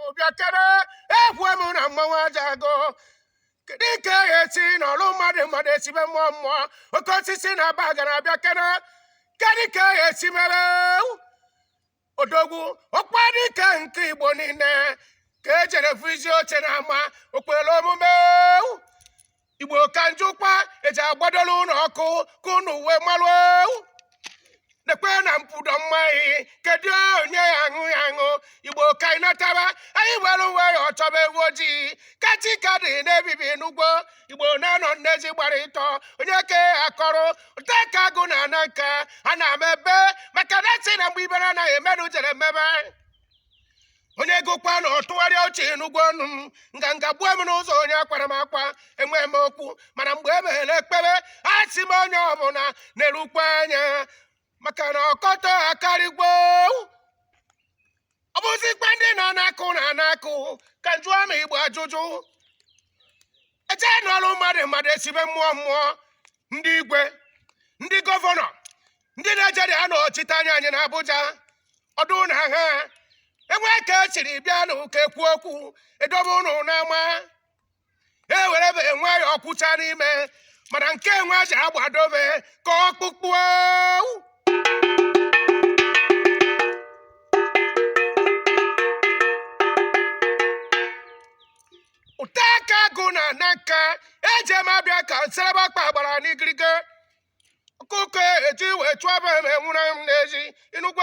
obiakere ekwe m na mmanwụ aja agụ kedu nke ya esi na ọlụ mmadụ mmadụ esibe mmụọ mmụọ oke osisi na aba gara abịa kere kedu nke ya esi mere odogwu ọkwa dike nke igbo niile ka ejere fụ izi oche na ama okpere omume igbo ka njụkwa eji agbadola ụlọ ọkụ ka ụnụ wee malụo nekwe na mpudo mmaghị kedu onye ya aṅụ ya aṅụ igbo ka anyị nataba anyị were uwe ya ọchọba ewu ojii ka chi ka dị na-ebibi n'ugbo igbo na-anọ nne ezi gbara ịtọ onye ke akọrọ ụta ka agụ na ana nka a na-ama ebe maka na si na mgbe ibere anaghị emerụ jere mmebe onye gụkwa na ọ tụgharịa uche n'ụgwọ ọnụ m nganga gbuo m n'ụzọ onye akwara m akwa enwe m okwu mana mgbe e meghere ekpere a sị m onye ọbụla na-erukwa anya maka na ọkọtọ akarịgwo ọ bụzikwa ndị nọ n'akụ na n'akụ ka m jụọ ụmụ igbo ajụjụ eje n'ọrụ mmadụ mmadụ esibe mmụọ mmụọ ndị igwe ndị gọvanọ ndị na-ejere anọchite anya anyị na Abuja ọdụ na ha enwe ka esiri bịa na ụka ekwu okwu edobe ụnụ n'ama e were be enwe ya ọkwụcha n'ime mana nke enwe ji agbadobe ka ọkpụkpụ ụta ka agụ na na nka eji m abịa ka nserebe akpa gbara n'igirige ọkụkọ eji wee chụọ m enwụrụ m n'ezi ị nụgwo